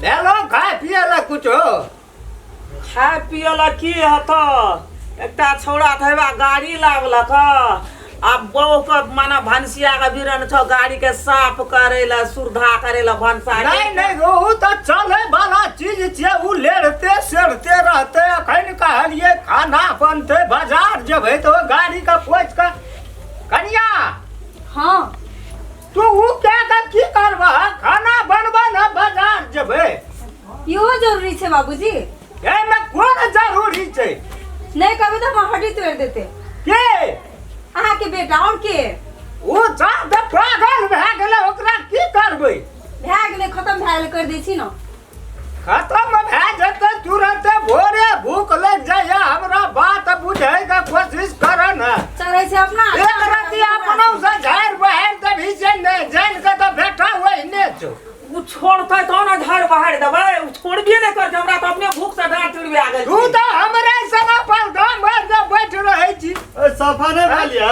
ले लो खाए पिए ला कुछ हो खाए पिए ला की हत एकटा छौड़ा थैबा गाड़ी लागलक आ बहु के माना भनसिया के बिरन छौ गाड़ी के साफ करे ला सुरधा करे ला भनसा नहीं नहीं रोहू तो चले वाला चीज छे उ लेड़ते सेड़ते रहते अखन कहलिए खाना बनते बाजार जब है तो गाड़ी का पोछ का कनिया हाँ तू ऊ कए कऽ की करबह खाना बनबऽ ने बाजार जेबै इहो जरूरी छै बाबूजी एहिमे कोन जरूरी छै नहि करबै तऽ हमर हड्डी तोड़ि देतै के अहाँके बेटा आओर के ओ जात पागल भए गेलै ओकरा की करबै भए गेलै खतम भए गेलै करि दै छी ने खत्म भए जेतै तुरंते भोरे भूख लग जाइए हमरा बात बुझे के कोशिश कर न चढ़ै छै अपना एक रति अपनो से झाड़ बहार देबी से ने जान के तो बेटा होई ने छो उ छोड़तै तो ना झाड़ बहार देबै उ छोड़बे नै करतै हमरा तऽ अपने भूख से डाँट टुटबे आ गेल तू छी। तो हमरा से ना पल धाम भर बैठ रहै छी सफा नहीं भलिया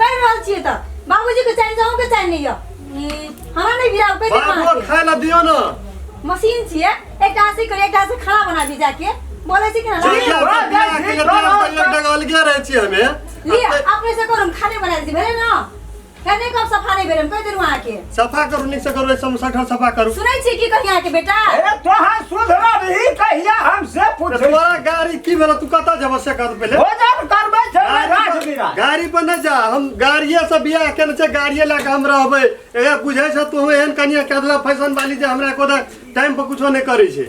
कर रहल छिए त बाबूजी के चाहिए जाऊ के चाहिए नहीं है हमरा नहीं गिरा पे बाबू खाए ला दियो ना मशीन छिए एक टा से कर एक टा से खाना बना दी जाके बोले छी कि ना चल जा बा, बियाह बा, के बा, बा, बा, पहिले बा। डगल गया रहे छी हमें लिए अपने से करूम खाने बना दी भेले ना कहने कब सफा नहीं भेले कह देनु आके सफा करू नीक से करू एकदम सठल सफा करू सुनै छियै की कहिया के बेटा ए तोहर सुधरा रही कहिया हमसे तो पूछे तुम्हारा गाड़ी की भेल तू कता जब से कर पहले भोजन करबै छै ना राख गाड़ी बिरा पर- गाड़ी पर नहीं जा हम गाड़िए से बियाह केने छै गाड़िए लए के हम रहबै ए बुझै छ तू एहन कनिया के अदला फैशन वाली जे हमरा को टाइम पर कुछो नहीं करै छै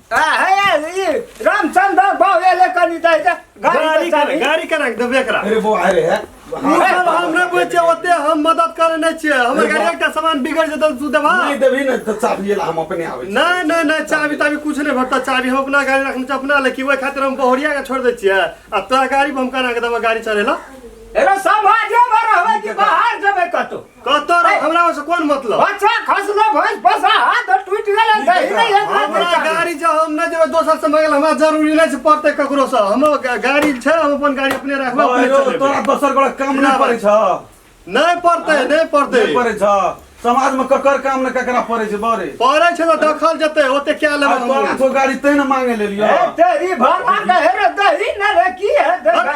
रामचंद बाबू एले कनी दै छै गाड़ी कर गाड़ी कर रख देबे करा अरे वो अरे है सब हम न बुझे ओते हम मदद करे नै छिए हमर गाड़ी एकटा सामान बिगड़ जेत तू देबा नै देबी नै त चाबी ला हम अपने आबै नै नै नै चाबी ताबी कुछ नै भरता चाबी हम अपना गाड़ी रखने छ अपना ले कि ओइ खातिर हम बहुरिया के छोड़ दै छिए आ तोरा गाड़ी हम कना के देबा गाड़ी चले ला एरा समाजे भर होवे कि बाहर जेबे कतो कतऽ रह हमरा से कोन मतलब बच्चा खसलो भैंस बसा हाथ और टूट गेलै सही नै एक हमरा बच्चा गाड़ी जे हम नहि जेबै दोसर से मंगल हमरा जरूरी नहि छै पड़तै ककरो से हमरो गा- गाड़ी छै हम अपन गाड़ी अपने रखबै अपने अरे, चलेबै तोरा दोसर बड़ा काम नहि पड़ै छ नहि पड़तै नहि पड़तै नहि पड़ै छ समाजमे ककर काम ने ककरा पड़ै छै बरे पड़ै छै तऽ देखल जेतै ओते क्या लेबै आज तोरा हम तो गाड़ी तै ने मांगे लेलियो ए, तेरी भगवान का हेरे दही न रे की है देखा